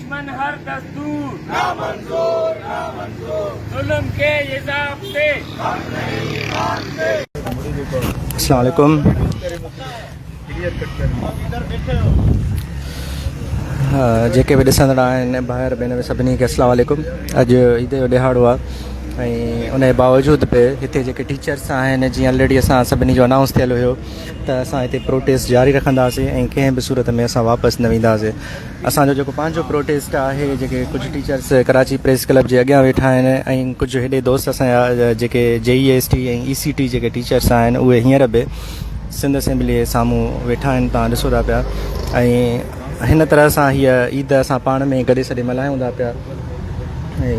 دشمن هر دستور نا منظور نا منظور ظلم کي عذاب تي غم نهين ايمان تي. السلام عليڪم جيڪي به ڏسندڙ آهن ڀائر ڀينر سڀني کي السلام عليڪم اڄ عيد جو ڏهاڙو آهي ۽ ان جي باوجود به هتي جيڪي ٽيچرس آهن جيئن آلريڊي اسان سڀني جو انائونس ٿيل هيو ته اسان هتي پروٽيسٽ جاري رکنداسين ۽ ڪنهن به صورت ۾ اسان واپس نه وينداسين اسان جو جيڪو پنهنجو پروٽيسٽ آهي، جيڪي ڪجهه ٽيچرس ڪراچي پريس ڪلب جي اڳيان ويٺا آهن ۽ ڪجهه هيڏي دوست اسان جا جيڪي جي اي ايس ٽي ۽ اي سي ٽي جيڪي ٽيچرس آهن اهي هينئر به سنڌ اسيمبلي جي سامهون ويٺا آهن تان ڏسو ٿا پيا ۽ هن طرح سان هيء عيد اسان پاڻ ۾ گڏي سڏي ملهايون ٿا پيا ۽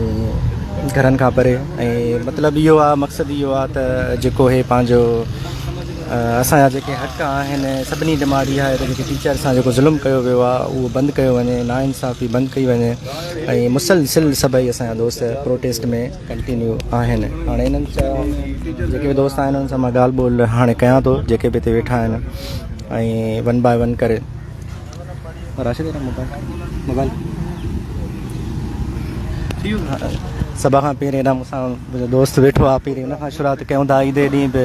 گهرن کان پري ۽ مطلب اهو آهي مقصد اهو آهي ته جيڪو هي پنهنجو اسان جا جيڪي حق آهن سڀني ڊمانڊ اها آهي ته جيڪي ٽيچر سان جيڪو ظلم ڪيو ويو آهي اهو بند ڪيو وڃي نا انصافي بند ڪئي وڃي ۽ مسلسل سڀئي اسان جا دوست پروٽيسٽ ۾ ڪنٽينيو آهن هاڻي انهن سان جيڪي به دوست آهن انهن سان مان ڳالهه ٻولهه هاڻي ڪيان ٿو جيڪي به هتي ويٺا آهن ۽ ون باء ون ڪري راشد موبائل سڀ کان پهرين مون سان دوست ويٺو آهي پهرين ان کان شروعات ڪيون ٿا عيد جي ڏينهن به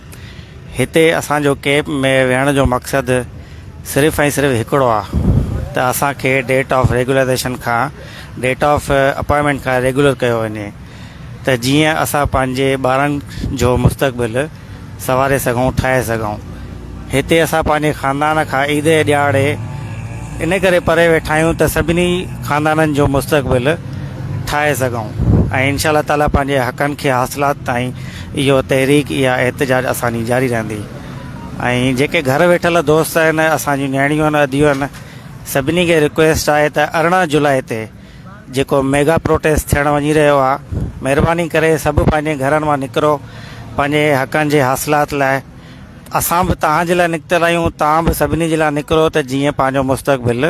هتي اسان جو ڪيمپ ۾ ويهڻ جو مقصد صرف ۽ صرف هڪڙو آ ته اسان کي ڊيٽ آف ريگولرائيزيشن کان ڊيٽ آف اپائنٽمينٽ کان ريگولر ڪيو وڃي ته جيئن اسان پنهنجي ٻارن جو مستقبل سنواري سگهون ٺاهي سگهون هتي اسان پنهنجي خاندان کان عيد جي ڏيهاڙي ان ڪري پري ويٺا آهيون ته سڀني خاندانن جو مستقبل ٺاهي سگهون ۽ انشاء الله تعالي پنهنجي حقن کي حاصلات تائين اهو تحريڪ يا احتجاج اسانجي جاري رهندي ۽ جيڪي گهر ويٺل دوست آهن اسان جون نياڻيون آهن اديون آهن سڀني کي رڪويسٽ آهي ته ارڙهن جولاء تي جيڪو ميگا پروٽيسٽ ٿيڻ وڃي رهيو آهي مهرباني ڪري سڀ پنهنجي گهرن مان نڪرو پنهنجي حقن جي حاصلات لاء اسان به توهان جي لاء نڪتل آهيون توهان به سڀني جي لاء نڪرو ته جيئن پنهنجو مستقبل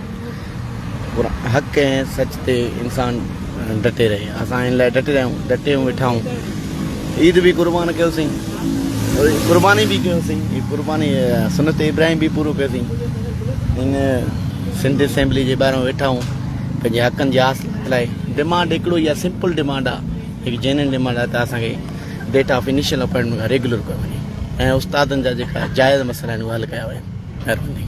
پر حق ۽ سچ تي انسان ڊٽي رهي اسان ان لاء ڊٽي رهيون ڊٽيون ويٺائون عيد به قربان ڪيوسين قرباني به ڪيوسين هي قرباني سنت ابراهيم به پورو ڪيوسين ان سنڌ اسيمبلي جي ٻاهران ويٺائون پنهنجي حقن جي آس لاء ڊيمانڊ هڪڙو يا سمپل ڊيمانڊ آهي هڪ جينن ڊيمانڊ آهي ته اسان کي ڊيٽ آف انيشل اپوائنٽمنٽ کان ريگولر ڪيو وڃي ۽ استادن جا جيڪا جائز مسئلا آهن اهي حل ڪيا وڃن مهرباني.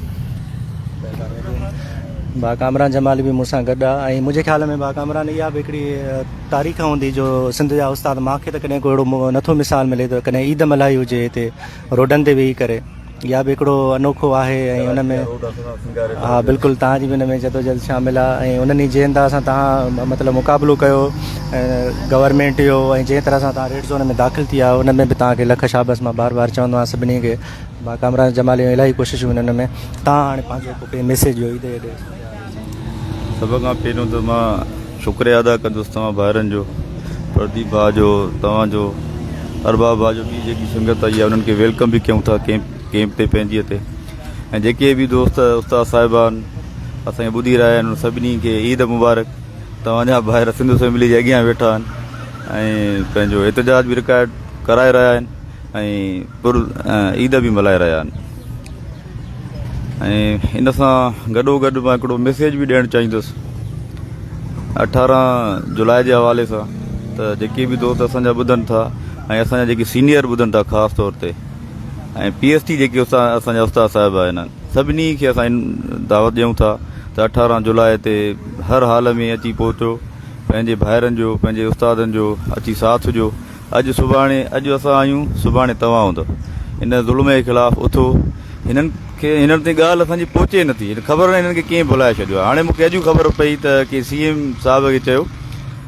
ڀاء ڪامران جمالي به مون سان گڏ آ ۽ منهنجي خيال ۾ ڀاء ڪامران اها به هڪڙي تاريخ هوندي جو سنڌ جا استاد مان کي ته ڪڏهن ڪو اهڙو نٿو مثال ملي ته ڪڏهن عيد ملهائي هجي هتي روڊن تي ويهي ڪري اها به هڪڙو انوکو آهي ۽ ان ۾ ها بلڪل توهان جي به ان ۾ جدوجهد شامل آ ۽ انهن جي انداز سان توهان مطلب مقابلو ڪيو گورنمينٽ جو ۽ جنهن طرح سان توهان ريڊ زون ۾ داخل ٿي آ ان ۾ به توهان کي لک شابس مان بار بار چوندو آهيان سڀني کي ڀا ڪامران جمالي جون الاهي ڪوششون هن ان ۾ تان هاڻي پنهنجو هڪ پي ميسيج جو ايدي ايدي سڀ کان پهريون ته مان شڪريا ادا ڪندس توهان ڀائرن جو پرديپ ڀا جو توهان جو ارباب ڀا جو ٻي جيڪي سنگت آئي انهن کي ويلڪم به ڪيون ٿا ڪيمپ ڪيمپ تي پنهنجي تي ۽ جيڪي به دوست استاد صاحبان اسان کي ٻڌي رهيا آهن سڀني کي عيد مبارڪ توهان جا ڀائر سنڌو فيملي جي اڳيان ويٺا آهن ۽ پنهنجو احتجاج به رڪارڊ ڪرائي رهيا آهن ۽ عيد به ملهائي رهيا آهن ۽ ان سان گڏو گڏ مان هڪڙو ميسيج به ڏيڻ چاهيندس اٺارهن جولاء جي حوالي سان ته جيڪي به دوست اسان جا ٻڌن ٿا ۽ اسان جا جيڪي سينيئر ٻڌن ٿا خاص طور تي ۽ پي ايس ٽي جيڪي اسان جا استاد صاحب آهن سڀني کي اسان دعوت ڏيون ٿا ته اٺارهن جولاء تي هر حال ۾ اچي پهچو پنهنجي ڀائرن جو پنهنجي استادن جو اچي ساٿ ڏيو اڄ سڀاڻي اڄ اسان آهيون سڀاڻي توهان هوندا ان ظلم جي خلاف اٿو هنن کي هنن تي ڳالهه اسان جي پهچي نه ٿي خبر نه هنن کي ڪيئن ڀلائي ڇڏيو آهي هاڻي مونکي اڄ خبر پئي ته ڪي سي ايم صاحب کي چيو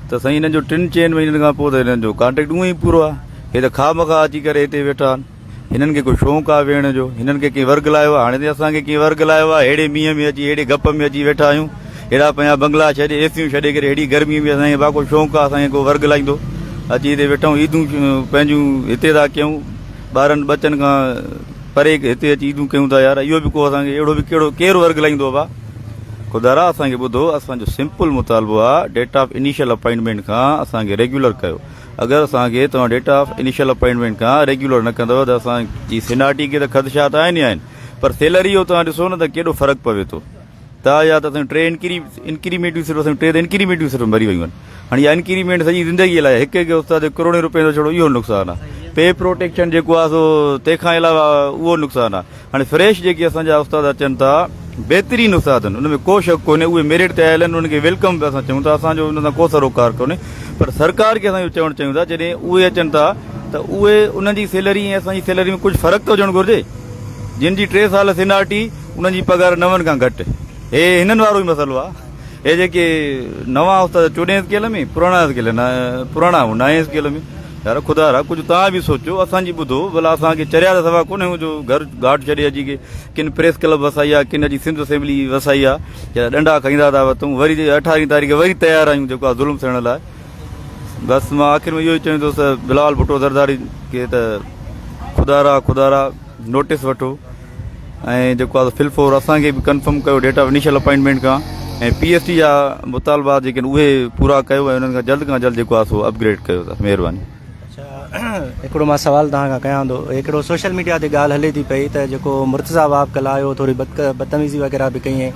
ته سائين هنن جو ٽن چئن مهينن کان پوء ته هنن جو ڪانٽيڪٽ اونئي پورو آهي هي ته خامخا اچي ڪري هتي ويٺا آهن هنن کي ڪو شونق آهي ويهڻ جو، هنن کي ڪنهن ورغلايو آهي، هاڻي تائين اسان کي ڪنهن ورغلايو آهي، ههڙي مينهن ۾ اچي، ههڙي گپ ۾ اچي ويٺا آهيون، ههڙا پنهنجا بنگلا ڇڏي، اي سيون ڇڏي ڪري، ههڙي گرمي ۾ اسان کي ڀا ڪو شونق آهي، اسان کي ڪو ورغلائيندو، اچي هتي ويٺائون، عيدون پنهنجون هتي ٿا ڪيون، ٻارن ٻچن کان پري هتي اچي عيدون ڪيون ٿا، يار اهو به ڪو اسان کي اهڙو به ڪهڙو ڪير ورغلائيندو ڀا. خدارا اسان کي ٻڌو، اسان جو سمپل مطالبو آهي، ڊيٽ آف انيشل اپائنٽمينٽ کان اسان کي ريگيولر ڪيو. اگر اسان کي توهان ڊيٽ آف انيشل اپائنٽمينٽ کان ريگيولر نه ڪندو ته اسان جي سينارٽي کي ته خدشا ته آهن ئي آهن پر سيلري جو توهان ڏسو نه ته ڪيڏو فرق پوي ٿو تا يا ته اسان ٽي انڪري انڪريمينٽون صرف اسان ٽي انڪريمينٽون صرف مري ويون آهن هاڻي يا انڪريمينٽ سڄي زندگي لاء هڪ هڪ استاد ڪروڙين روپين جو ڇڙو اهو نقصان آهي پي پروٽيڪشن جيڪو آهي سو تنهن کان علاوه اهو نقصان آهي هاڻي فريش جيڪي اسان جا استاد اچن ٿا بهترين استاد ان ۾ ڪو شڪ ڪونهي اهي ميرٽ تي آيل آهن انهن کي ويلڪم به اسان چون ٿا اسان جو ان سان ڪو سروڪار ڪونهي پر سرڪار کي اسان اهو چوڻ چاهيون ٿا جڏهن اهي اچن ٿا ته اهي انهن جي سيلري ۽ اسان جي سيلري ۾ ڪجهه فرق ته هجڻ گهرجي جن جي ٽي سال سينارٽي انهن جي پگهار نون کان گهٽ هي هنن وارو ئي مسئلو آهي هي جيڪي نوان استاد چوڏهين اسڪيل ۾ پراڻا اسڪيل پراڻا نائين اسڪيل ۾ يار خدا را ڪجهه توهان به سوچو اسان جي ٻڌو ڀلا اسان کي چريا سوا ڪونه هو جو گهر گهاٽ ڇڏي اچي کي ڪن پريس ڪلب وسائي آ ڪن اچي سنڌ اسيمبلي وسائي آ جيڪا ڏنڊا کائيندا ٿا وتون وري 18 تاريخ وري تيار آيون جيڪو ظلم سهڻ لاء بس مان آخر ۾ اهو ئي چوندو ته بلال ڀٽو زرداري کي ته خدا را خدا را نوٽيس وٺو ۽ جيڪو آهي فل فور اسان کي به ڪنفرم ڪيو ڊيٽا انيشل اپائنٽمينٽ کان ۽ پي ايس ٽي جا مطالبا جيڪي اهي پورا ڪيو ۽ انهن کان جلد کان جلد جيڪو آهي سو اپگريڊ ڪيو اٿس مهرباني اچھا هڪڙو مان سوال توهان کان ڪيان ٿو هڪڙو سوشل ميڊيا تي ڳالهه هلي ٿي پئي ته جيڪو مرتضا واب ڪل آيو ٿوري بدتميزي وغيرها به ڪئي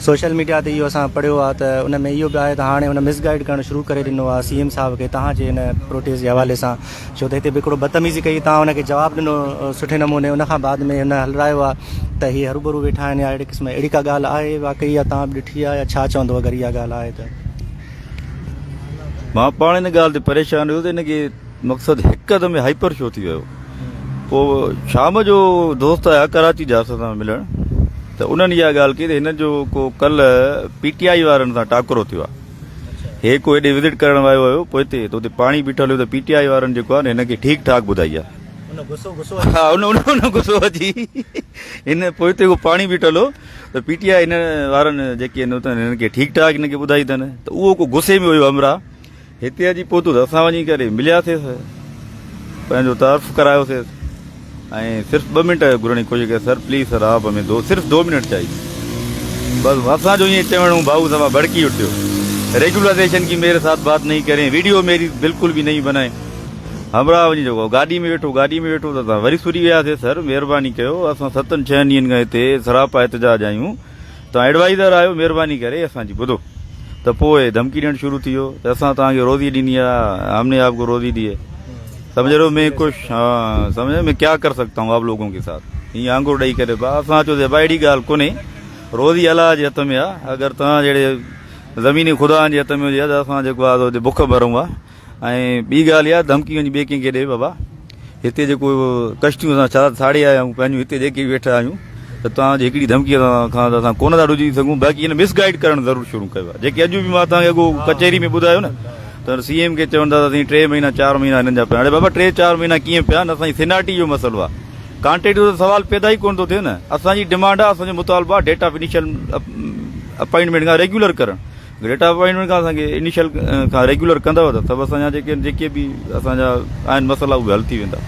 سوشل ميڊيا تي اهو اسان پڙهيو آهي ته ان ۾ اهو به آهي ته هاڻي هن مس گائيڊ ڪرڻ شروع ڪري ڏنو آهي سي ايم صاحب کي توهان جي ان پروٽيسٽ جي حوالي سان ڇو ته هتي به هڪڙو بدتميزي ڪئي تان ان کي جواب ڏنو سٺي نموني ان کان بعد ۾ هن هلرايو آ ته هي هروڀرو ويٺا آهن يا اهڙي قسم اهڙي ڪا ڳالهه آهي واقعي يا تان به ڏٺي آ يا ڇا چوندو اگر اها ڳالهه آهي ته. مان پاڻ ان ڳالهه تي پريشان هيو ته هن کي مقصد هڪدم يا هائپر ڇو ٿي ويو پوء شام جو دوست آيا ڪراچي جا اسان سان ملڻ ته انهن اها ڳالهه ڪئي ته هن جو ڪو ڪلهه پي ٽي آئي وارن سان ٽاڪرو ٿيو آ هيڪ هو هيڏي وزٽ ڪرڻ ويو هيو پوئتي ته اتي پاڻي بيٺل هيو ته پي ٽي آء وارن جيڪو آهي نه هن کي ٺيڪ ٺاڪ ٻڌائي آهي ان غصو غصو اچي ها ان ان غصو اچي هن پوئتي هو پاڻي بيٺل هو ته پي ٽي آء هن وارن جيڪي هن اتن هن کي ٺيڪ ٺاڪ هن کي ٻڌائي اٿن ته اهو ڪو غصي ۾ هيو همرا هتي اچي پوتو ته اسان وڃي ڪري ملياسيس پنهنجو تعارف ڪرايوسيس ۽ صرف ٻه منٽ گهرڻ جي ڪوشش ڪيو سر پليز سر آپ ھمين دو صرف دو منٽ چاھيي بس اسان جو ائين چوڻ ھو بھاھو سما ڀڙڪي اٺيو ريگولائزيشن ڪي ميري ساٿ بات نھي ڪرين ويڊيو ميري بلڪل به نھي بنائين ھمراھ وڃي جيڪو گاڏي ۾ ويٺو گاڏي ۾ ويٺو ته اسان وري سھري وياسي سر مھرباني ڪيو اسان ستن ڇهن ڏينھن کان ھتي سراپا احتجاج آھيون توهان ايڊوائيزر آهيو مهرباني ڪري اسان جي ٻڌو ته پوء ڌمڪي ڏيڻ شروع ٿي ويو ته اسان توهان کي روزي ڏني آ هم ني آپ ڪو روزي ديئي سمجهه رهو مين ڪش ها سمجهه مين ڪيا ڪر سگتا هون آپ لوگون ڪي ساٿ هيئن آنگور ڏئي ڪري با اسان چيو زيبا اهڙي ڳالهه ڪونهي روزي الله جي هٿ ۾ آ اگر توهان جهڙي زميني خدائن جي هٿ ۾ هجي ها ته اسان جيڪو آ سو بک مرون ها ۽ ٻي ڳالهه اها ڌمڪي وڃي ٻئي ڪنهن کي ڏي بابا هتي جيڪو ڪشتيون اسان چار ساڙي آيا آهيون پنهنجون هتي جيڪي به ويٺا آهيون ته توهان جي هڪڙي ڌمڪي کان ته اسان ڪونه ٿا ڊڄي سگهون باقي هن مس گائيڊ ڪرڻ ضرور شروع ڪيو آهي جيڪي اڄ به مان توهان کي اڳو ڪچهري ۾ ٻڌايو نه ته سي ايم کي چون ٿا ته سائين ٽي مهينا چار مهينا هنن جا پيا هاڻي بابا ٽي چار مهينا ڪيئن پيا نه سائين سيناٽي جو مسئلو آهي ڪانٽيٽو جو سوال پيدا ئي ڪونه ٿو ٿئي نه اسان جي ڊيمانڊ آهي اسان جو مطالبو آهي ڊيٽا آف انيشل اپائنٽمينٽ کان ريگيولر ڪرڻ ڊيٽا اپائنٽمينٽ کان اسان کي انيشل کان ريگيولر ڪندو ته سڀ اسان جا جيڪي جيڪي به اسان جا آهن مسئلا اهي حل ٿي ويندا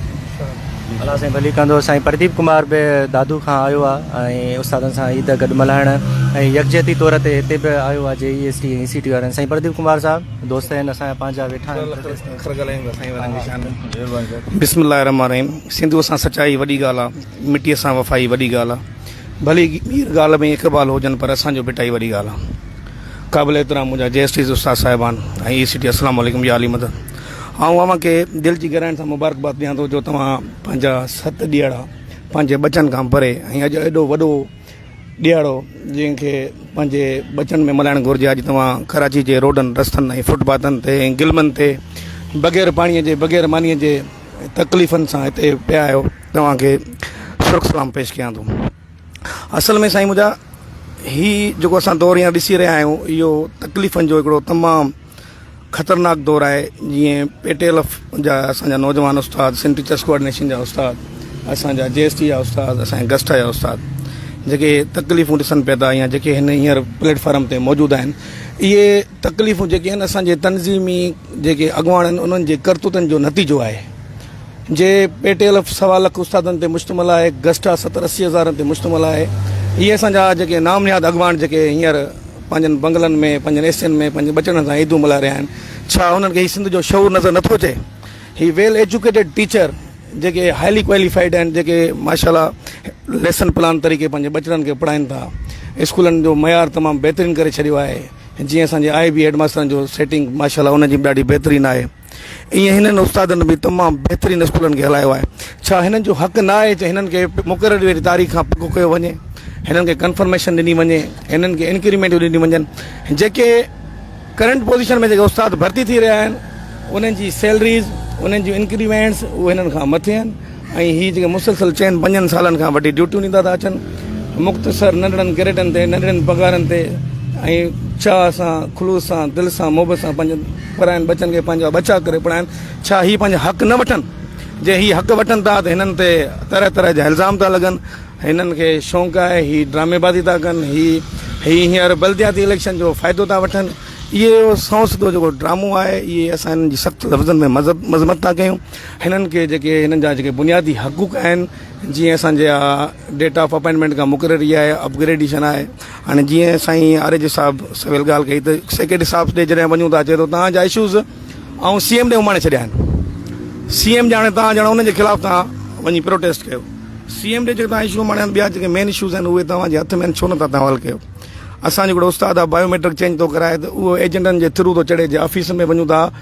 الله سائين ڀلي ڪندو سائين پرديپ ڪمار به دادو کان آيو آ ۽ استادن سان عيد گڏ ملهائڻ ۽ يڪجهتي طور تي هتي به آيو آ جي اي ايس ٽي ۽ سي ٽي وارن سائين پرديپ ڪمار صاحب دوست آهن اسان جا پنهنجا ويٺا آهن بسم الله الرحمن الرحيم سنڌو سان سچائي وڏي ڳالهه آ مٽي سان وفائي وڏي ڳالهه آ ڀلي مير گال ۾ اقبال هجن پر اسان جو ڀٽائي وڏي ڳالهه آ قابل احترام منهنجا جي ايس ٽيز استاد صاحبان ۽ اي سي ٽي السلام عليڪم يا علي مدد آئون اوهان کي دل جي گهرائين سان مبارڪباد ڏيان ٿو جو توهان پنهنجا ست ڏيهاڙا پنهنجي ٻچن کان پري ۽ اڄ ايڏو وڏو ڏيهاڙو جنهن کي پنهنجي ٻچن ۾ ملهائڻ گهرجي اڄ توهان ڪراچي جي روڊن رستن ۽ فوٽ پاٿن تي ۽ گلمن تي بغير پاڻي جي بغير مانيء جي تڪليفن سان هتي پيا آهيو توهان کي سرخ سلام پيش ڪيان ٿو اصل ۾ سائين منهنجا هي جيڪو اسان دور هينئر ڏسي رهيا آهيون اهو تڪليفن جو هڪڙو تمام خطرناڪ دور آهي جيئن پيٽيل جا اسان جا نوجوان استاد سن ٽيچرس ڪوآرڊينيشن جا استاد اسان جا جي ايس ٽي جا استاد اسان جا گسٽا جا استاد جيڪي تڪليفون ڏسن پيا ٿا يا جيڪي هن هينئر پليٽفارم تي موجود آهن اهي تڪليفون جيڪي آهن اسان جي تنظيمي جيڪي اڳواڻ آهن انهن جي ڪرتوتن جو نتيجو آهي جي پي ٽي الف سوا لک استادن تي مشتمل آهي گسٽا ستر اسي هزارن تي مشتمل آهي اهي اسان جا جيڪي نام نهاد اڳواڻ جيڪي هينئر پنهنجن بنگلن ۾ پنهنجن اي سين ۾ پنهنجن ٻچڙن سان عيدون ملهائي رهيا آهن ڇا انهن کي هي سنڌ جو شعور نظر نٿو اچي هي ويل ايجوڪيٽيڊ ٽيچر جيڪي هائلي ڪواليفائيڊ آهن جيڪي ماشاءالله ليسن پلان طريقي پنهنجي ٻچڙن کي پڙهائين ٿا اسڪولن جو معيار تمام بهترين ڪري ڇڏيو آهي جيئن اسان جي آء بي هيڊ ماسترن جو سيٽنگ ماشاءالله انهن جي به ڏاڍي بهترين آهي ايئن هنن استادن به تمام بهترين اسڪولن کي هلايو آهي ڇا هنن جو حق نه آهي ته هنن کي مقرر واري تاريخ کان پڪ ڪيو وڃي هنن کي ڪنفرميشن ڏني وڃي هنن کي انڪريمينٽ ڏني وڃن جيڪي ڪرنٽ پوزيشن ۾ جيڪي استاد ڀرتي ٿي رهيا آهن انهن جي سيلريز انهن جون انڪريمينٽس اهي هنن کان مٿي آهن ۽ هي جيڪي مسلسل چئن پنجن سالن کان وڍي ڊيوٽيون ڏيندا ٿا اچن مختصر ننڍڙن گريڊن تي ننڍڙين پگهارن تي ۽ چاهه سان خلوص سان دل سان محبت سان پنهنجن پراين بچن کي پنهنجا ٻچا ڪري پڙهائن ڇا هي پنهنجا حق نه وٺن جي هي حق وٺن ٿا ته هنن تي طرح طرح جا الزام ٿا لڳن هنن کي شونق آهي هي ڊرامي بازي ٿا ڪن هي هي هينئر بلدياتي اليڪشن جو فائدو ٿا وٺن اهو سنوس جو جيڪو ڊرامو آهي اهي اسان هنن جي سخت لفظن ۾ مذمت ٿا ڪيون هنن کي جيڪي هنن جا جيڪي بنيادي حقوق آهن جيئن اسان جا ڊيٽا آف اپائنٽمينٽ کان مقرري آهي اپگريڊيشن آهي هاڻي جيئن سائين آر جي صاحب سويل ڳالهه ڪئي ته سيڪريٽري صاحب ڏي جڏهن وڃون ٿا چي ٿو تان جا اشوز ۽ سی ايم ڏي اماڻي ڇڏيا آهن سی ايم ڄاڻي تان ڄاڻ ان جي خلاف تان وڃي پروٽيسٽ ڪيو سی ايم ڏي جيڪي تان اشو اماڻي ٻيا جيڪي مين اشوز آهن اهي توهان جي هٿ ۾ ڇو نٿا تان حل ڪيو اسان جو هڪڙو استاد آهي بايوميٽرڪ چينج ٿو ڪرائي ته اهو ايجنٽن جي ٿرو ٿو چڙهي جي آفيسن ۾ وڃون ٿا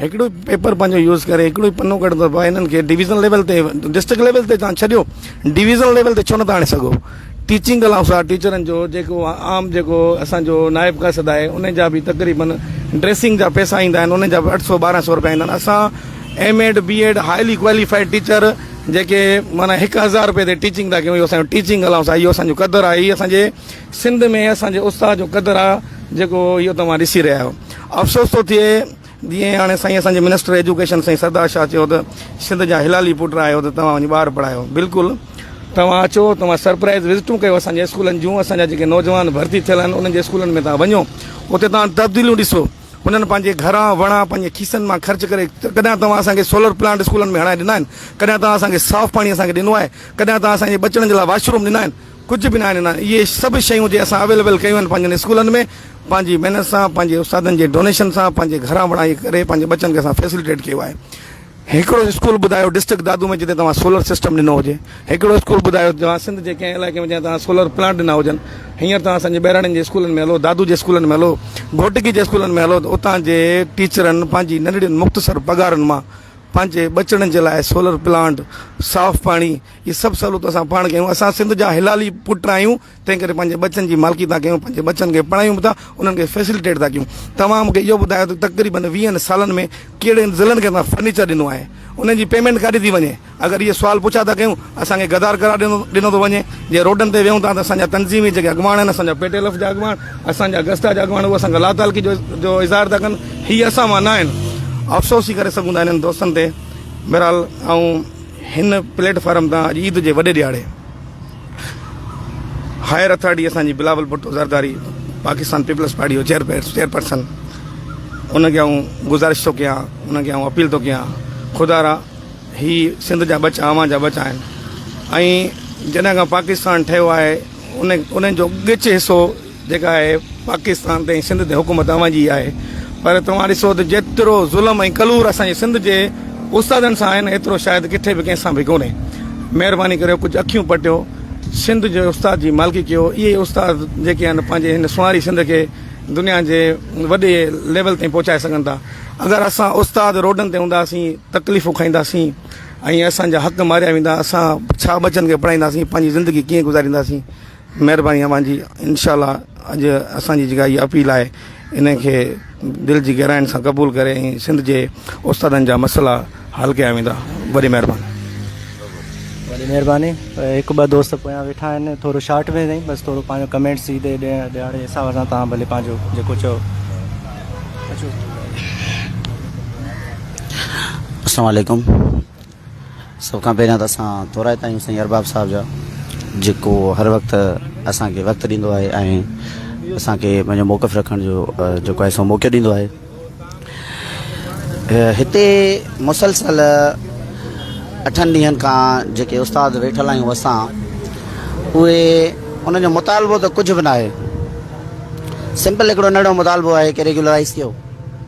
هڪڙو ئي پيپر پنهنجو يوز ڪري هڪڙو ئي پنو ڪڍندو آهي باهه انهن کي ڊويزن ليول تي ڊسٽرڪٽ ليول تي تان ڇڏيو ڊويزن ليول تي ڇو نٿا آڻي سگهو ٽيچنگ ڪلاب سا ٽيچرن جو جيڪو عام جيڪو اسان جو نائب قاصد آهي ان جا به تقريبن ڊريسنگ جا پيسا ايندا آهن ان جا به اٺ سو ٻارهن سو روپيا ايندا آهن اسان M Ed B Ed highly qualified teacher جيڪي معنی هڪ هزار روپيه تي ٽيچنگ تھا ڪيون اهو اسان جو ٽيچنگ ڪلاب سا اهو اسان جو قدر آهي هي اسان جي سنڌ ۾ اسان جي استاد جو قدر آهي جيڪو اهو توهان ڏسي رهيا آهيو افسوس ٿو ٿئي جيئن هاڻي سائين اسان جي منسٽر ايجوڪيشن سائين سردار شاهه چيو ته سنڌ جا هلالي پٽ آهيو ته توهان وڃي ٻار پڙهايو بلڪل توهان اچو توهان سرپرائز وزٽون ڪيو اسان جي اسڪولن جون اسان جا جيڪي نوجوان ڀرتي ٿيل آهن انهن جي اسڪولن ۾ توهان وڃو اتي توهان تبديليون ڏسو انهن پنهنجي گهرا وڻا پنهنجي کيسن مان خرچ ڪري ڪڏهن توهان اسان کي سولر پلانٽ اسڪولن ۾ هڻائي ڏنا آهن ڪڏهن توهان اسان کي صاف پاڻي اسان کي ڏنو آهي ڪڏهن توهان اسان جي بچڙن جي لاء واشروم ڏنا آهن ڪجهه به ناهن ڏنا اهي سڀ شيون جي اسان اويليبل ڪيون آهن پنهنجن اسڪولن ۾ پنهنجي محنت سان پنهنجي استادن جي ڊونيشن سان پنهنجي گهران وڻائي ڪري پنهنجي ٻچن کي اسان فيسلٽيٽ ڪيو آهي هڪڙو اسڪول ٻڌايو ڊسٽرڪٽ دادو ۾ جتي توهان سولر سسٽم ڏنو هجي هڪڙو اسڪول ٻڌايو توهان سنڌ جي ڪنهن علائقي ۾ جنهن توهان سولر پلانٽ ڏنا هجن هينئر توهان اسان جي ٻهراڙين جي اسڪولن ۾ هلو دادو جي اسڪولن ۾ هلو گهوٽڪي جي اسڪولن ۾ هلو ته اتان جي ٽيچرن پنهنجي ننڍڙين مختصر پگهارن مان پنهنجي ٻچڙن جي لاء سولر پلانٽ صاف پاڻي هي سڀ سهولتون اسان پاڻ ڪيون اسان سنڌ جا هلالي پٽ آهيون تنهن ڪري پنهنجي ٻچن جي مالڪي ٿا ڪيون، پنهنجي ٻچن کي پڙهايون به ٿا، انهن کي فيسلٽيٽ ٿا ڪيون. توهان مون کي اهو ٻڌايو ته تقريبن ويهن سالن ۾ ڪهڙن ضلعن کي توهان فرنيچر ڏنو آهي؟ انهن جي پيمينٽ ڪاڏي ٿي وڃي؟ اگر اهي سوال پڇا ٿا ڪيون، اسان کي غدار قرار ڏنو ٿو وڃي. جي روڊن تي ويهون ٿا ته اسان جا تنظيمي جيڪي اڳواڻ آهن، اسان جا پي ٽي ايل ايف جا اڳواڻ، اسان جا گسٽا جا اڳواڻ هو اسان کان لاتعلقي جو اظهار ٿا ڪن. هي اسان مان نه آهن. افسوس ئي ڪري سگهون ٿا انهن دوستن تي. بهرحال آئون هن پليٽ فارم تان اڄ عيد جي وڏي ڏهاڙي. هائير اٿارٽي اسان جي بلاول ڀٽو زرداري پاڪستان پيپلز پارٽي جو چيئر چيئرپرسن ان کي آئون گزارش ٿو ڪيان ان کي آئون اپيل ٿو ڪيان خدا را هي سنڌ جا ٻچا اوهان جا ٻچا آهن ۽ جڏهن کان پاڪستان ٺهيو آهي ان ان جو ڳچ حصو جيڪا آهي پاڪستان تي ۽ سنڌ تي حڪومت اوهان جي ئي آهي پر توهان ڏسو ته جيترو ظلم ۽ ڪلور اسان جي سنڌ جي استادن سان آهي نه ايترو شايد ڪٿي به ڪنهن سان به ڪونهي مهرباني ڪريو ڪجهه اکيون پٽيو سنڌ جي استاد جي مالڪي ڪيو اهي ئي استاد جيڪي آهن پنهنجي هن سونهاري سنڌ کي دنيا جي وڏي ليول تائين پهچائي سگهن ٿا اگر اسان استاد روڊن تي هونداسين تڪليفون کائينداسين ۽ اسان جا حق ماريا ويندا اسان ڇا ٻچن کي پڙهائينداسين پنهنجي زندگي ڪيئن گذارينداسين مهرباني اوهان جي انشاء الله اڄ اسان جي جيڪا هي اپيل آهي ان کي دل جي گهراين سان قبول ڪري ۽ سنڌ جي استادن جا مسئلا حل ڪيا ويندا وڏي مهرباني وڏي مهرباني هڪ ٻه دوست پويان ويٺا آهن ٿورو شارٽ ۾ سائين بس ٿورو پنهنجو ڪمينٽ سيدي ڏيڻ ڏيڻ جي حساب سان تان ڀلي پنهنجو جيڪو چو السلام عليڪم سڀ کان پهريان ته اسان ٿورائتا آهيون سائين ارباب صاحب جا جيڪو هر وقت اسان کي وقت ڏيندو آهي ۽ اسان کي پنهنجو موقف رکڻ جو جيڪو آهي سو موقعو ڏيندو آهي هتي مسلسل اٺن ڏينهن کان جيڪي استاد ويٺل آهيون اسان اهي انهن جو مطالبو ته ڪجهه به ناهي سمپل هڪڙو ننڍڙو مطالبو آهي ڪي ريگيولرائز ٿيو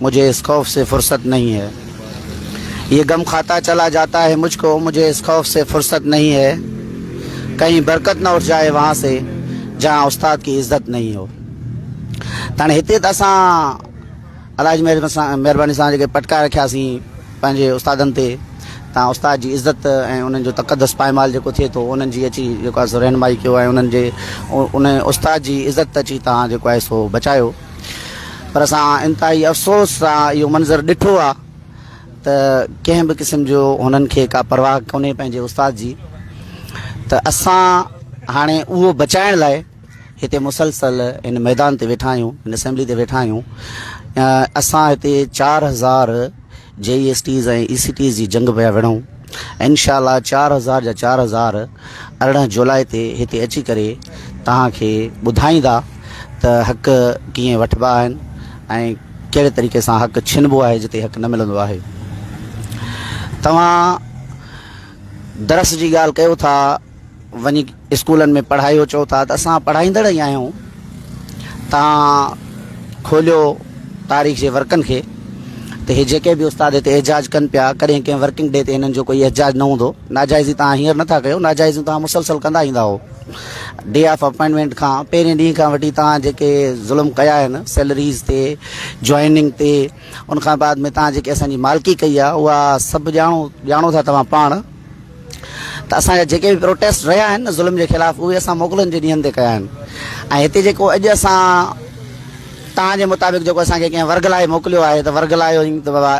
مجھے اس خوف سے فرصت نھين ھي يھ غم کھاتا چلا جاتا ھي مجھ کو مجھے اس خوف سي فرصت نھين ھي ڪھين برڪت نھ اٺ جائي وھان سي جھان استاد ڪي عزت نھين ھو تاڻي ھتي تھ اسان الاھي جي مھرباني سان جيڪي پٽڪا رکيا سين پنھنجي استادن تي تان استاد جي عزت ۽ انھن جو تقدس پائمال جيڪو ٿئي ٿو انھن جي اچي جيڪو آھي سو رھنمائي ڪيو ۽ انھن جي ان استاد جي عزت اچي تان جيڪو آھي سو بچايو پر اسان انتهائي افسوس سان اهو منظر ڏٺو آهي ته ڪنهن به قسم جو هنن کي ڪا پرواهه ڪونهي پنهنجي استاد جي ته اسان هاڻي اهو بچائڻ لاء هتي مسلسل ان ميدان تي ويٺا آهيون ان اسيمبلي تي ويٺا آهيون اسان هتي چار هزار جي E S Ts ۽ E C Ts جي جنگ پيا وڙهون انشاء الله چار هزار جا چار هزار ارڙهن جولاء تي هتي اچي ڪري توهان کي ٻڌائيندا ته حق ڪيئن وٺبا آهن ۽ ڪهڙي طريقي سان حق ڇنبو آهي جتي حق نه ملندو آهي توهان درس جي ڳالهه ڪيو ٿا وڃي اسڪولن ۾ پڙهايو چئو ٿا ته اسان پڙهائيندڙ ئي آهيون تان کوليو تاريخ جي ورقن کي ته هي جيڪي به استاد هتي احجاج ڪن پيا ڪڏهن ڪنهن ورڪنگ ڊي تي هنن جو ڪوئي احجاج نه هوندو ناجائزي تان هينئر نٿا ڪيو ناجائزي تان مسلسل ڪندا ايندا هو ڊي آف اپائنٽمنٽ کان پهرين ڏينهن کان وٺي تان جيڪي ظلم ڪيا آهن سيلريز تي جوائننگ تي ان کان بعد ۾ تان جيڪي اسان جي مالڪي ڪئي آهي اها سڀ ڄاڻو ڄاڻو ٿا توهان پاڻ ته اسان جا جيڪي به پروٽيسٽ رهيا آهن نه ظلم جي خلاف اهي اسان موڪلن جي ڏينهن تي ڪيا آهن ۽ هتي جيڪو اڄ اسان تان جي مطابق جيڪو اسان کي ڪنهن ورغلائي موڪليو آهي ته ورغلايو ته بابا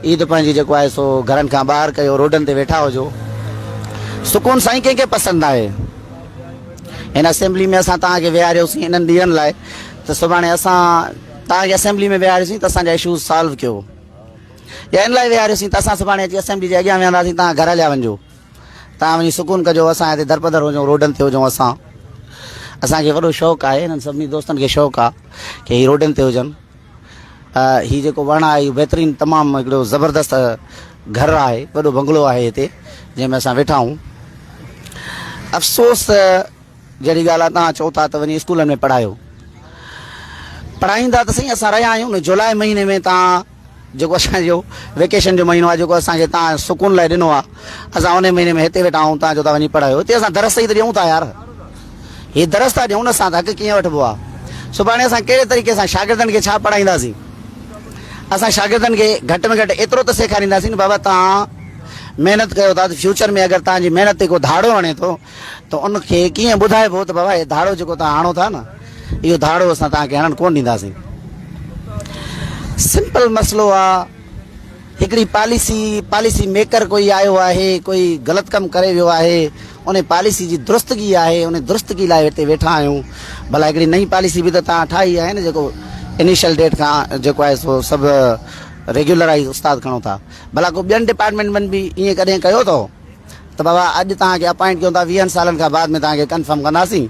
عيد پنهنجي جيڪو آهي سو گهرن کان ٻاهر ڪيو روڊن تي ويٺا هجو سڪون سائين ڪنهن کي پسند آهي هن اسيمبلي ۾ اسان تان کي ويهاريوسين انهن ڏينهن لاء ته سڀاڻي اسان تان کي اسيمبلي ۾ ويهاريوسين ته اسان جا اشوز سالو ڪيو يا ان لاء ويهاريوسين ته اسان سڀاڻي اچي اسيمبلي جي اڳيان ويهنداسين توهان گهر هليا وڃجو توهان وڃي سڪون ڪجو اسان هتي درپدر هجون روڊن تي هجون اسان اسان کي وڏو شوق آهي انهن سڀني دوستن کي شوق آهي ڪي هي روڊن تي هجن هي جيڪو وڻ آهي اهو بهترين تمام هڪڙو زبردست گهر آهي وڏو بنگلو آهي هتي جنهن ۾ اسان ويٺا آهيون افسوس جهڙي ڳالهه آهي توهان چئو ٿا ته وڃي اسڪولن ۾ پڙهايو پڙهائيندا ته سائين اسان رهيا آهيون جولاء مهيني ۾ تان جيڪو اسان جو ويڪيشن جو مهينو آهي جيڪو اسان کي تان سڪون لاء ڏنو آهي اسان انهي مهيني ۾ هتي ويٺا آهون تان جو تان وڃي پڙهايو هتي اسان درس ئي ته ڏيون ٿا يار هي درس ٿا ڏيون نه اسان ته حق ڪيئن وٺبو آهي سڀاڻي اسان ڪهڙي طريقي سان شاگردن کي ڇا پڙهائينداسين اسان شاگردن کي گهٽ ۾ گهٽ ايترو ته سيکارينداسين بابا تان محنت ڪيو ٿا ته فيوچر ۾ اگر تان جي محنت تي ڪو ڌاڙو هڻي ٿو ته ان کي ڪيئن ٻڌائبو ته بابا هي ڌاڙو جيڪو توهان هڻو ٿا نه اهو ڌاڙو اسان توهان کي هڻڻ ڪونه ڏينداسين. سمپل مسئلو آ هڪڙي پاليسي پاليسي ميڪر ڪوئي آيو آهي ڪوئي غلط ڪم ڪري ويو آهي ان پاليسي جي درستگي آهي ان درستگي لاء هتي ويٺا آهيون ڀلا هڪڙي نئين پاليسي به ته توهان ٺاهي آهي نه جيڪو انيشل ڊيٽ کان جيڪو آهي سو سڀ ريگيولرائيز استاد کڻو ٿا ڀلا ڪو ٻين ڊپارٽمينٽ ۾ به ائين ڪڏهن ڪيو اٿو ته بابا اڄ توهان کي اپائنٽ ڪيون ٿا ويهن سالن کان بعد ۾ توهان کي ڪنفرم ڪنداسين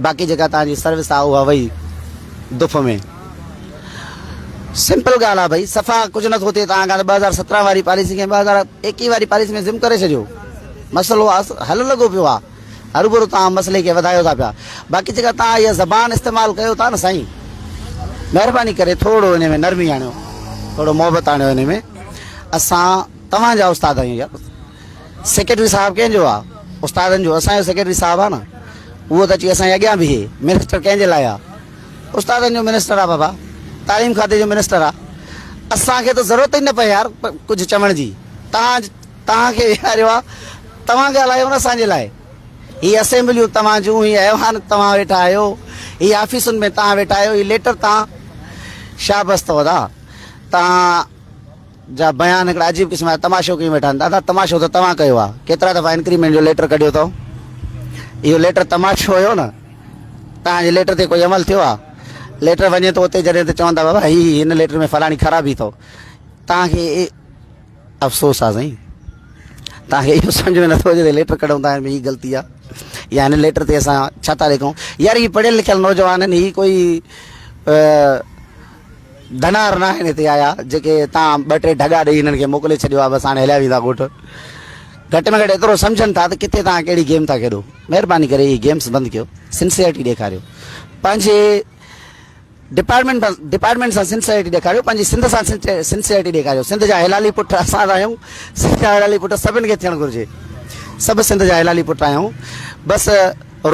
باقي جيڪا توهان جي سروس آهي اها وئي دف ۾ سمپل ڳالهه آهي ڀئي صفا ڪجهه نٿو ٿئي توهان کان ٻه هزار سترهن واري پاليسي کي ٻه هزار ايڪيهه واري پاليسي ۾ ضم ڪري ڇڏيو مسئلو حل لڳو پيو آهي هربرو توهان مسئلي کي وڌايو ٿا پيا باقي جيڪا توهان اها زبان استعمال ڪيو ٿا نه سائين مهرباني ڪري ٿورو ان ۾ نرمي آڻيو ٿورو محبت آڻيو ان ۾ اسان توهان جا استاد آهيون يار سيڪريٽري صاحب ڪنهن جو آ استادن جو اسان جو سيڪريٽري صاحب آ نه اهو ته اچي اسان جي اڳيان بيهي منسٽر ڪنهن جي لاء آ استادن جو منسٽر آ بابا تعليم کاتي جو منسٽر آ اسان کي ته ضرورت ئي نه پئي يار ڪجهه چوڻ جي توهان توهان کي ويهاريو آ توهان ڳالهايو نه اسان جي لاء هي اسيمبليون توهان جون هي ايوان توهان ويٺا آهيو هي آفيسن ۾ توهان ويٺا آهيو هي ليٽر توهان شابس اٿو ادا توهان جا بيان هڪڙا عجيب قسم جا تماشو ڪيون ويٺا آهن. دادا تماشو ته توهان ڪيو آهي. ڪيترا دفعا انڪريمينٽ جو ليٽر ڪڍيو اٿئو. اهو ليٽر تماشو هيو نه. توهان جي ليٽر تي ڪوئي عمل ٿيو آهي. ليٽر وڃي ٿو اتي جڏهن ته چون ٿا بابا هي هي هن ليٽر ۾ فلاڻي خرابي اٿئو. توهان کي افسوس آهي سائين. توهان کي اهو سمجهه ۾ نٿو اچي ته ليٽر ڪڍون ٿا ۾ هي غلطي آهي. يا هن ليٽر تي اسان ڇا ٿا لکون. يار هي پڙهيل لکيل نوجوان آهن هي ڪوئي ڌنار ناهن هتي آيا جيڪي تان ٻه ٽي ڍڳا ڏئي هنن کي موڪلي ڇڏيو آ بس هاڻي هليا ويندا ڳوٺ گهٽ ۾ گهٽ ايترو سمجهن ٿا ته ڪٿي تان ڪهڙي گيم ٿا کيڏو مهرباني ڪري هي گيمز بند ڪيو سنسيئرٽي ڏيکاريو پنهنجي ڊپارٽمنٽ ڊپارٽمنٽ سان سنسيئرٽي ڏيکاريو پنهنجي سنڌ سان سنسيئرٽي ڏيکاريو سنڌ جا هلالي پٽ اسان آهيون سنڌ جا هلالي پٽ سڀن کي ٿيڻ گهرجي سڀ سنڌ جا هلالي پٽ آهيون بس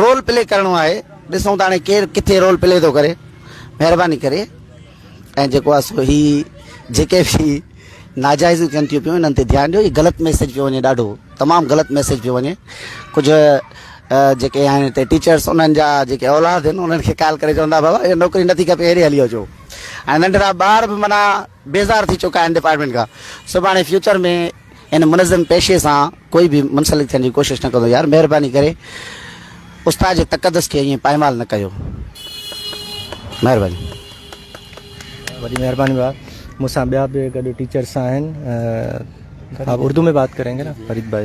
رول پلي ڪرڻو آهي ڏسون ته هاڻي ڪير ڪٿي رول پلي ٿو ڪري مهرباني ڪري ۽ جيڪو آ سو هي جيڪي به ناجائزون ٿين ٿيون پيون انهن تي ڌيان ڏيو هي غلط ميسيج پيو وڃي ڏاڍو تمام غلط ميسيج پيو وڃي ڪجهه جيڪي آهن هتي ٽيچرس انهن جا جيڪي اولاد آهن انهن کي ڪال ڪري چوندا بابا هي نوڪري نٿي کپي هيڏي هلي اچو ۽ ننڍڙا ٻار به منا بيزار ٿي چڪا آهن ڊپارٽمنٽ کان سڀاڻي فيوچر ۾ ان منظم پيشي سان ڪوئي به منسلڪ ٿيڻ جي ڪوشش نه ڪندو يار مهرباني ڪري استاد جي تقدس کي ائين پائمال نه ڪيو مهرباني. وڏي مهرباني ڀاء مون سان ٻيا به گڏ ٽيچرس آهن آپ اردو ۾ بات ڪرينگي نا فريد بھاء.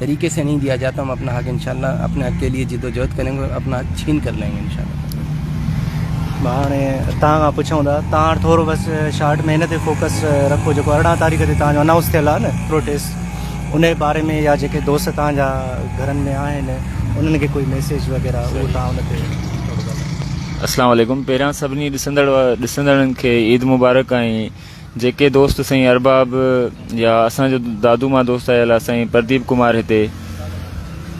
طريقي سي نهين ديا جاتا هم اپنا حق انشاء الله اپني حق ڪي ليي جد و جهد ڪرين گي اپنا حق ڇين ڪر لائين گي انشاء الله مان هاڻي تان کان پڇون ٿا تان هاڻي ٿورو بس شارٽ ۾ هن تي فوڪس رکو جيڪو ارڙهن تاريخ تي تان جو انائونس ٿيل آهي نه پروٽيسٽ ان جي باري ۾ يا جيڪي دوست تان جا گهرن ۾ آهن انهن کي ڪوئي ميسيج وغيره اهو تان ان تي اسلام عليڪم پهريان سڀني ڏسندڙ ڏسندڙن کي عيد مبارڪ ۽ جيڪي دوست سائين ارباب يا اسان جو دادو مان دوست آيل آ سائين پرديپ ڪمار هتي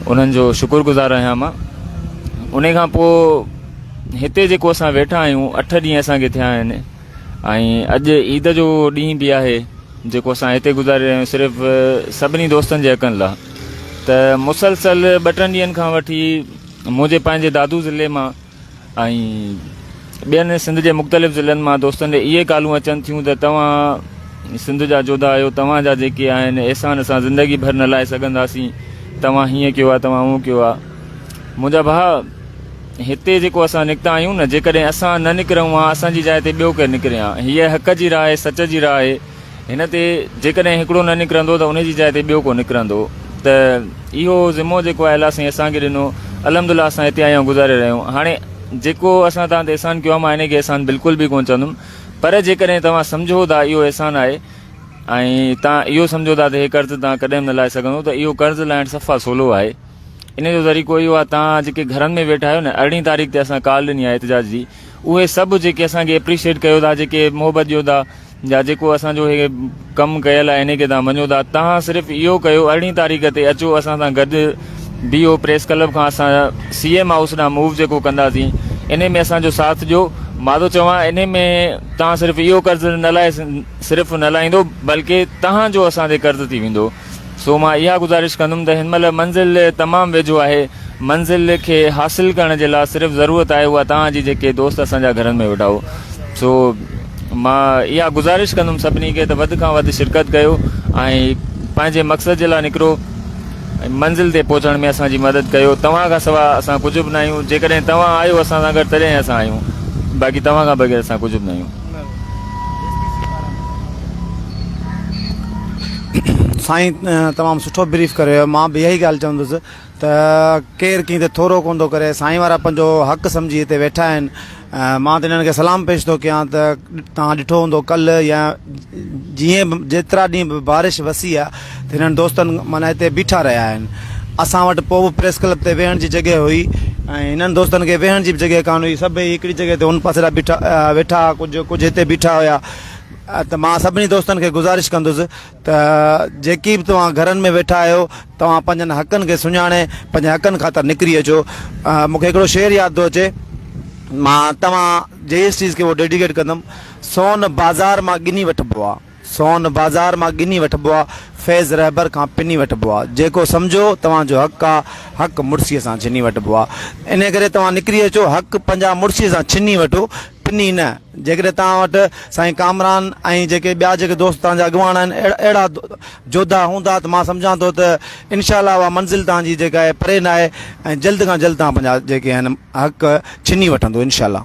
انهن جو شڪر گذار آهيان مان انهي کان پو هتي جيڪو اسان ويٺا آهيون اٺ ڏينهن اسان کي ٿيا آهن ۽ اڄ عيد جو ڏينهن به آهي جيڪو اسان هتي گذاري رهيا آهيون صرف سڀني دوستن جي حقن لا ته مسلسل ٻه ٽن ڏينهن کان وٺي منهنجي پنهنجي دادو ضلعي مان ۽ ٻين سنڌ جي مختلف ضلعن مان دوستن ڏي اهي ڪالون اچن ٿيون ته توهان سنڌ جا جوڌا آهيو توهان جا جيڪي آهن احسان اسان زندگي ڀر نه لائي سگهنداسين توهان هيئن ڪيو آهي توهان هون ڪيو آهي منهنجا ڀاء هتي جيڪو اسان نڪتا آهيون نه جيڪڏهن اسان نه نڪرون ها اسان جي جاء تي ٻيو ڪير نڪري ها هيء حق جي راء سچ جي راء هن تي جيڪڏهن هڪڙو نه نڪرندو ته ان جي جاء تي ٻيو ڪو نڪرندو ته اهو ذمو جيڪو آهي الله سائين اسان کي ڏنو الحمدالله اسان هتي آيون گذاري رهيا آهيون هاڻي جيڪو اسان تان تي احسان ڪيو آهي مان ان کي احسان بلڪل به ڪونه چوندم پر جيڪڏهن توهان سمجهو ٿا اهو احسان آهي ۽ تان اهو سمجهو ٿا ته هي قرض تان ڪڏهن نه لائي سگهندو ته اهو قرض لائڻ صفا سولو آهي ان جو ذريقو اهو آهي تان جيڪي گهرن ۾ ويٺا آهيو نه ارڙهين تاريخ تي اسان ڪال ڏني آهي احتجاج جي اهي سڀ جيڪي اسان کي اپريشيٽ ڪيو ٿا جيڪي محبت ڏيو ٿا جا جيڪو اسان جو هي ڪم ڪيل آهي انهي کي توهان مڃو ٿا توهان صرف اهو ڪيو ارڙهين تاريخ تي اچو اسان سان گڏ بيهو پريس ڪلب کان اسان سي ايم هائوس ڏانهن موو جيڪو ڪنداسين انهي ۾ اسان جو ساٿ ڏيو مان ٿو چوان انهي ۾ توهان صرف اهو قرض نه لاهي صرف نه لاهيندو بلڪه توهان جو اسان تي قرض ٿي ويندو سو مان اها گذارش ڪندم ته هن مهل منزل تمام ويجهو آهي، منزل کي حاصل ڪرڻ جي لا صرف ضرورت آهي اها توهان جي جيڪي دوست اسان جا گهرن ۾ ويٺا هو سو مان اها گذارش ڪندم سڀني کي ته وڌ کان وڌ شرڪت ڪيو ۽ پنهنجي مقصد جي لا نڪرو ۽ منزل تي پهچڻ ۾ اسان جي مدد ڪيو توهان کان سوا اسان ڪجهه به ناهيون جيڪڏهن توهان آهيو اسان سان گڏ تڏهن اسان آهيون باقي توهان کان بغير اسان ڪجهه به ناهيون. سائين تمام سٺو بريف ڪريو مان به اهي ڳالهه چوندس ته ڪير ڪين ته ٿورو ڪون ٿو ڪري سائين وارا پنهنجو حق سمجهي هتي ويٺا آهن مان ته انهن کي سلام پيش ٿو ڪيان ته تان ڏٺو هوندو ڪل يا جيئن به جيترا ڏينهن به بارش وسي آهي هنن دوستن معنيٰ هتي بيٺا رهيا آهن. اسان وٽ پوء به پريس ڪلب تي ويهڻ جي جڳهه هئي ۽ هنن دوستن کي ويهڻ جي به جڳهه ڪانه هئي. سڀئي هڪڙي جڳهه تي ان پاسي ڏانهن بيٺا ويٺا ها، ڪجهه ڪجهه هتي بيٺا هيا ته مان سڀني دوستن کي گذارش ڪندس ته جيڪي به توهان گهرن ۾ ويٺا آهيو، توهان پنهنجن حقن کي سڃاڻي پنهنجن حقن خاطر نڪري اچو. مون کي هڪڙو شعر ياد ٿو اچي، مان توهان جي اس چيز کي ڊيڊيڪيٽ ڪندم، سون بازار مان ڳني وٺبو آ. سون بازار مان ڳني وٺبو آ، فيض رهبر کان پني وٺبو آ، جيڪو سمجهو توهان جو حق آ، حق مڙسيء سان ڇني وٺبو آ، انهيء ڪري توهان نڪري اچو، حق پنهنجا مڙسيء سان ڇني وٺو، پني نه، جيڪڏهن توهان وٽ سائين ڪامران ۽ جيڪي ٻيا جيڪي دوست توهان جا اڳواڻ آهن، اهڙا جوڌا هوندا ته مان سمجهان ٿو ته انشاء الله اها منزل توهان جي جيڪا آهي پري ناهي ۽ جلد کان جلد توهان پنهنجا جيڪي آهن حق ڇني وٺندو انشاء الله.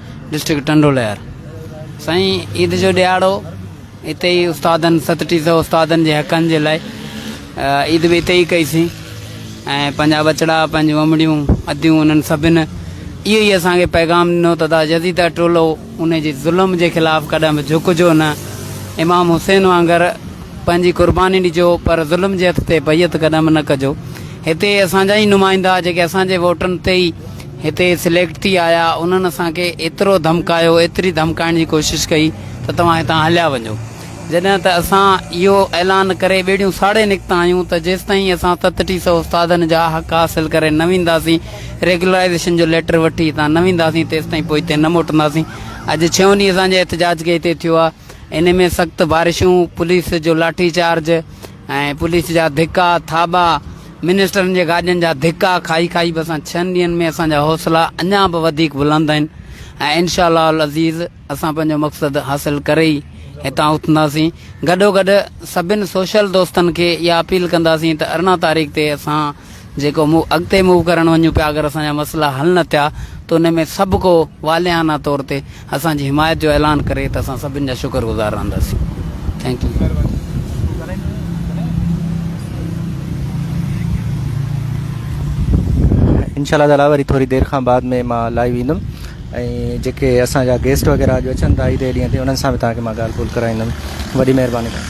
ڊسٽرڪٽ ٽنڊو لهر سائين عيد جو ڏيهاڙو اتي ئي استادن ست ٽي سو استادن جي حقن جي لاء عيد به اتي ئي ڪئيسين ۽ پنهنجا ٻچڙا پنهنجون امڙيون اديون انهن سڀن اهو ئي اسانکي پيغام ڏنو ته دا جديده ٽولو ان جي ظلم جي خلاف ڪڏهن به جهڪجو نه امام حسين وانگر پنهنجي قرباني ڏجو پر ظلم جي هٿ تي بيعت ڪڏهن به نه ڪجو هتي اسان جا ئي نمائندا جيڪي اسان جي ووٽن تي ئي هتي سليڪٽ ٿي آيا، انهن اسان کي ايترو ڌمڪايو، ايتري ڌمڪائڻ جي ڪوشش ڪئي ته توهان هتان هليا وڃو. جڏهن ته اسان اهو اعلان ڪري ٻيڙيون ساڙي نڪتا آهيون ته جيستائين اسان ست ٽي سؤ استادن جا حق حاصل ڪري نه وينداسين، ريگيولرائيزيشن جو ليٽر وٺي هتان نه وينداسين تيستائين پوئتي نه موٽنداسين. اڄ ڇهون ڏينهن اسان جي احتجاج کي هتي ٿيو آهي. ان ۾ سخت بارشون، پوليس جو لاٺي چارج، ۽ پوليس جا ڌڪا، ٿاٻا، منسٽرن جي گاڏين جا ڌڪا کائي کائي به اسان ڇهن ڏينهن ۾ اسان جا حوصلا اڃا به وڌيڪ بلند آهن ۽ انشاء الله العزيز اسان پنهنجو مقصد حاصل ڪري ئي هتان اٿنداسين. گڏوگڏ سڀن سوشل دوستن کي اها اپيل ڪنداسين ته ارڙهن تاريخ تي اسان جيڪو مون اڳتي موو ڪرڻ وڃون پيا اگر اسان جا مسئلا حل نه ٿيا ته ان ۾ سڀ ڪو والهانه طور تي اسان جي حمايت جو اعلان ڪري ته اسان سڀن جا شڪر گذار رهنداسين ٿينڪ يو. انشاء الله تعالٰي وري ٿوري دير کان بعد ۾ مان لائيو ايندم ۽ جيڪي اسان جا گيسٽ وغيره اڄ اچن ٿا عيد جي ڏينهن تي انهن سان به توهان کي مان ڳالهه ٻولهه ڪرائيندم وڏي مهرباني ڪندو.